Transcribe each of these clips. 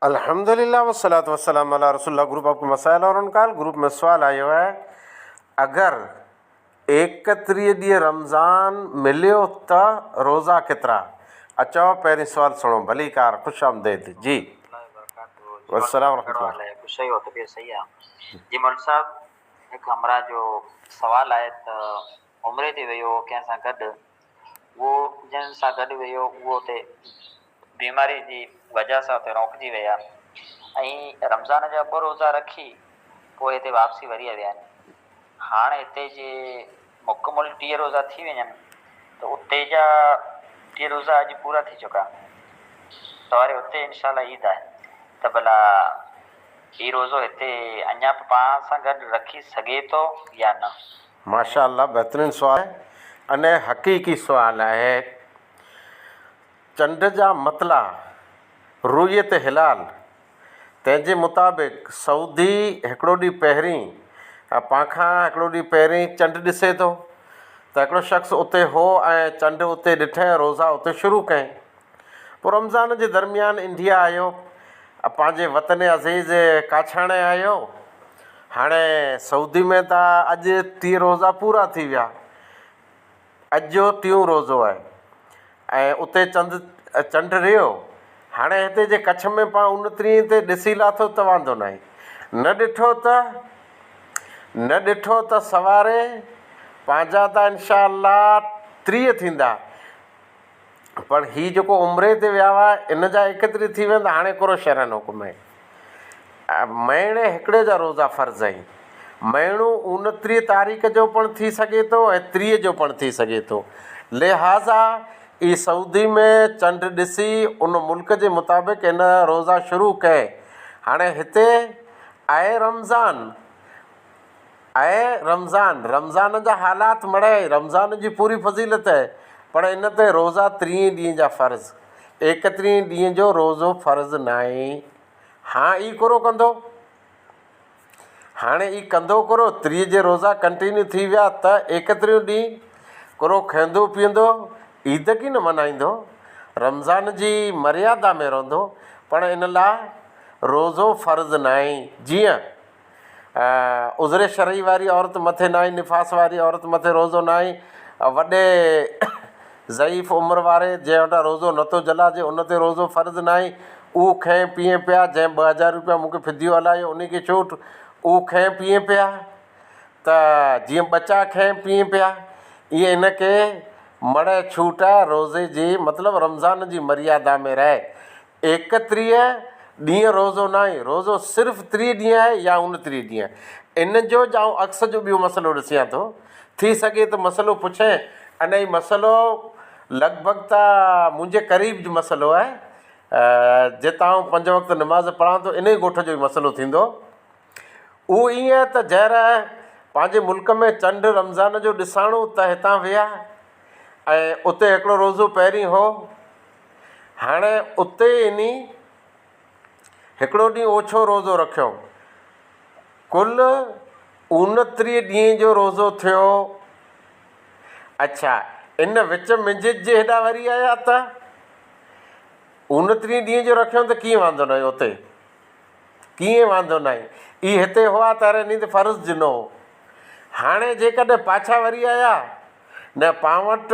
الحمد لله والصلوة والسلام علی رسول الله گروپ آپ ڪي مسائل اور انڪال گروپ ۾ سوال آيو آهي اگر ايڪٽريهه ڏينهن رمضان مليو ته روزا ڪيترا آ چئو پهرين سوال سڻو ڀليڪار خوش آمديد جي والسلام ورحمة الله. هو جنهن سان گڏ ويو اهو اتي بيماري جي وجهه سان اتي روڪجي ويا ۽ رمضان جا ٻه روزا رکي پوء هتي واپسي وري ويا آهن. هاڻ هتي جي مڪمل ٽيهه روزا ٿي وڃن ته اتي جا ٽيهه روزا اڄ پورا ٿي چڪا تواري اتي انشاء الله عيد آهي ته ڀلا هي روزو هتي اڃا به پاڻ سان گڏ رکي سگهي ٿو يا نه. ماشاء الله بهترين سوال آهي اني حقيقي سوال آهي چنڊ جا مطلع رويت هلال تنهن جي مطابق سعودي هڪڙو ڏينهن پهرين اپان کان هڪڙو ڏينهن پهرين چنڊ ڏسي ٿو ته هڪڙو شخص اتي هو ۽ چنڊ اتي ڏٺئين روزا اتي شروع ڪئين پوء رمضان جي درميان انڊيا آيو ۽ پنهنجي وطن عزيز ڪاڇاڻي آيو. هاڻي سعودي ۾ ته اڄ ٽيهه روزا پورا ٿي ويا. اڄ جو ٽيون روزو آهي ۽ اتي چند چنڊ رهيو. هاڻي هتي جي ڪڇ ۾ پان اونترينء تي ڏسي لاٿو ته واندو ناهي. نه ڏٺو ته نه ڏٺو ته سواري پنهنجا ته انشاء الله ٽيهه ٿيندا پر هي جيڪو عمري تي ويا هئا، ان جا ايڪتري ٿي ويا آهن ته هاڻي ڪورو شرعن حڪم آهي. مهيني هڪڙي جا روزا فرض آهن. مهينو اونٽيهه تاريخ جو پڻ ٿي سگهي ٿو ۽ ٽيهه جو پڻ ٿي سگهي ٿو. لهٰذا اي سعودي ۾ چنڊ ڏسي ان ملڪ جي مطابق ان روزا شروع ڪئي. هاڻي هتي آهي رمضان. اي رمضان! رمضان جا حالات مڙهه، رمضان جي پوري فضيلت پڙهه ان تي روزا ترينء ڏينهن جا فرض، ايڪترينء ڏينهن جو روزو فرض ناهي، هان اي ڪورو ڪندو. هاڻي اي ڪندو ڪورو، ترينء جي روزا ڪنٽينيو ٿي ويا ته ايڪتريون ڏينهن ڪورو کئندو پيئندو، عيد ڪي نه منائيندو، رمضان جي مريادا ۾ رهندو، پڙهه ان لاء روزو فرض ناهي، جيئن عذر شرعي واري عورت مٿي ناهي، نفاس واري عورت مٿي روزو ناهي، وڏي ضعيف عمر واري جنهن وٽان روزو نٿو جهلائجي ان تي روزو فرض ناهي، اهو کئين پيئين پيا جنهن ٻه هزار روپيا مون کي فديو هلايو انهي کي ڇوٽ، اهو کئين پيئين پيا ته جيئن ٻچا کئين پيئين پيا ايئن هن کي مڙهي ڇوٽ روزي جي مطلب رمضان جي مريادا ۾ رهي ايڪٽريهه ڏينهن روزو ناهي، روزو صرف ٽريهه ڏينهن آهي يا اڻٽريهه ڏينهن. ان جو جا آئون عڪس جو ٻيو مسئلو ڏسيان ٿو. ٿي سگهي ته مسئلو پڇين ان هي مسئلو لڳ ڀڳ ته منهنجي قريب جو مسئلو آهي. جتان آئون پنج وقت نماز پڙهان ٿو ان ئي ڳوٺ جو مسئلو ٿيندو. اهو ائين آهي ته جئر پنهنجي ملڪ ۾ چنڊ رمضان جو ڏساڻو ته هتان ويا ۽ اتي هڪڙو روزو پهرين هو. هاڻي اتي انهي هڪڙو ڏينهن اوڇو روزو رکيو. ڪل اونٽريهه ڏينهن جو روزو ٿيو. اڇا، ان وچ منجهس جي هيڏانهن وري آيا ته؟ اونٽريهه ڏينهن جو رکيو ته ڪيئن واندو ناهي اتي؟ ڪيئن واندو ناهي؟ اي هتي هئا ته ارهن ڏينهن ته فرض جنو هو. هاڻي جيڪڏهن پاڇا وري آيا نه پانوٽ؟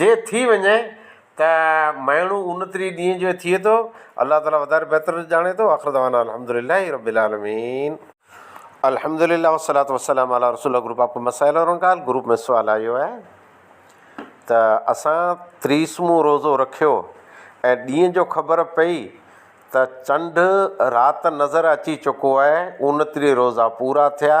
جي ٿي وڃي ته مهيڻو اونتريهه ڏينهن جو ٿئي ٿو الله تعالي وڌاري بهتر ڄاڻي ٿو آخر دعوانا الحمد لله رب العالمين. الحمد لله والصلوة والسلام علي رسول الله گروپ آپ کو مسائل اور انکال گروپ ۾ سوال آيو آهي ته اسان تريس مون روزو رکيو ۽ ڏينهن جو خبر پئي ته چنڊ رات نظر اچي چڪو آهي اونتريهه روزا پورا ٿيا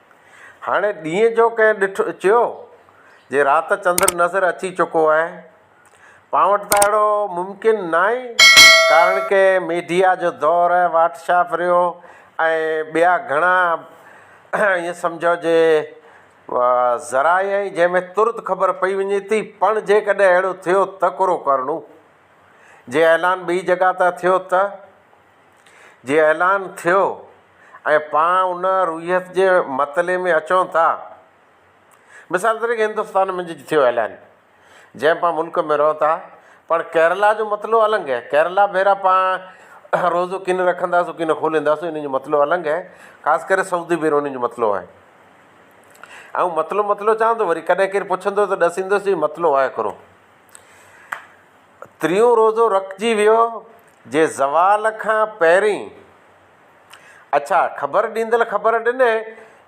هاڻي ڏينهن جو ڪنهن ڏٺ چيو، جي رات چندر نظر اچي چڪو آهي. پان وٽ ته اهڙو ممڪن ناهي، ڪارڻ ڪي ميڊيا جو دور آهي، واٽ شاپ ريو ۽ ٻيا گهڻا ائين سمجهو جي ذرائع آهن، جنهن ۾ ترت خبر پئي وڃي ٿي، پڻ جيڪڏهن اهڙو ٿيو ته ڪرو ڪرڻو. جي اعلان ٻي جڳهه تان ٿيو ته؟ جي اعلان ٿيو ۽ پاڻ ان روحيت جي مطلعي ۾ اچون ٿا. مثال طريقي هندستان ۾ جي ٿيو اعلان جنهن پاڻ ملڪ ۾ رهون ٿا پاڻ ڪيرلا جو مطلعو النگ هي ڪيرلا ڀيرا پاڻ روزو ڪين رکنداسون ڪين کولينداسون انهن جو مطلعو النگ هي خاص ڪري سعودي ڀيرو انهن جو مطلعو آهي آئون مطلعو مطلعو چوان ٿو وري ڪڏهن ڪير پڇندو ته ڏسيندوس چي مطلعو آهي هڪڙو ٽيون روزو رکجي ويو جي زوال کان پهرين. اڇا خبر ڏيندل خبر ڏني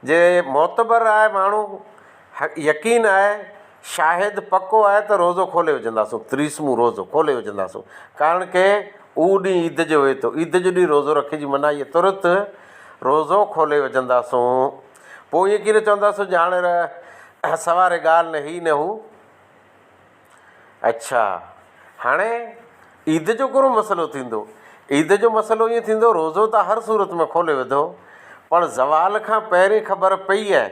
جي معتبر آهي ماڻهو يقين آهي شاهد پڪو آهي ته روزو کولي وجهنداسون تريسمون روزو کولي وجهنداسون ڪارڻ ڪي اهو ڏينهن عيد جو هئي ٿو عيد جو ڏينهن روزو رکي جي مناهي هي ترت روزو کولي وجهنداسون پوء ائين ڪي نه چونداسون جي هاڻي سواري ڳالهه نه هي نه هو. اڇا هاڻي عيد جو ڪهڙو مسئلو ٿيندو؟ عيد جو مسئلو ائين ٿيندو روزو ته هر صورت ۾ کولي وڌو پڻ زوال کان پهرين خبر پئي آهي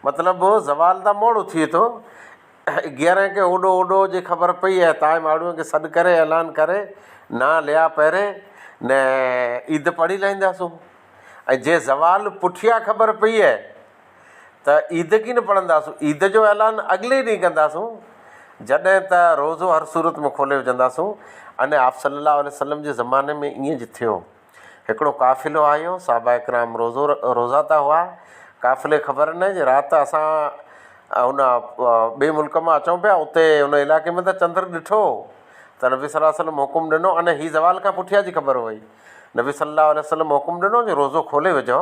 مطلب زوال ته موڙو ٿئي ٿو اگيارهين کي اوڏو اوڏو جي خبر پئي آهي تاء ماڙهوئن کي سڏ ڪري اعلان ڪري نا ليا پهرين نه عيد پڙهي لهنداسون ۽ جي زوال پٺيان خبر پئي آهي ته عيد ڪين پڙهنداسون، عيد جو اعلان اڳلي ڏينهن ڪنداسون، جڏهن ته روزو هر صورت ۾ کولي وجهنداسون ۽ آپ صلّي اللّٰه عليه وسلّم جي زماني ۾ ائين ئي ٿيو. هڪڙو قافلو آيو، صحابه ڪرام روزو روزه ته هئا، قافلي خبر نه جي رات اسان ان ٻئي ملڪ مان اچون پيا، اتي ان علائقي ۾ ته چندر ڏٺو ته نبي صلّي اللّٰه عليه وسلّم حڪم ڏنو ۽ هي زوال کان پٺيان جي خبر هئي، نبي صلّي اللّٰه عليه وسلّم حڪم ڏنو جو روزو کولي وجهو.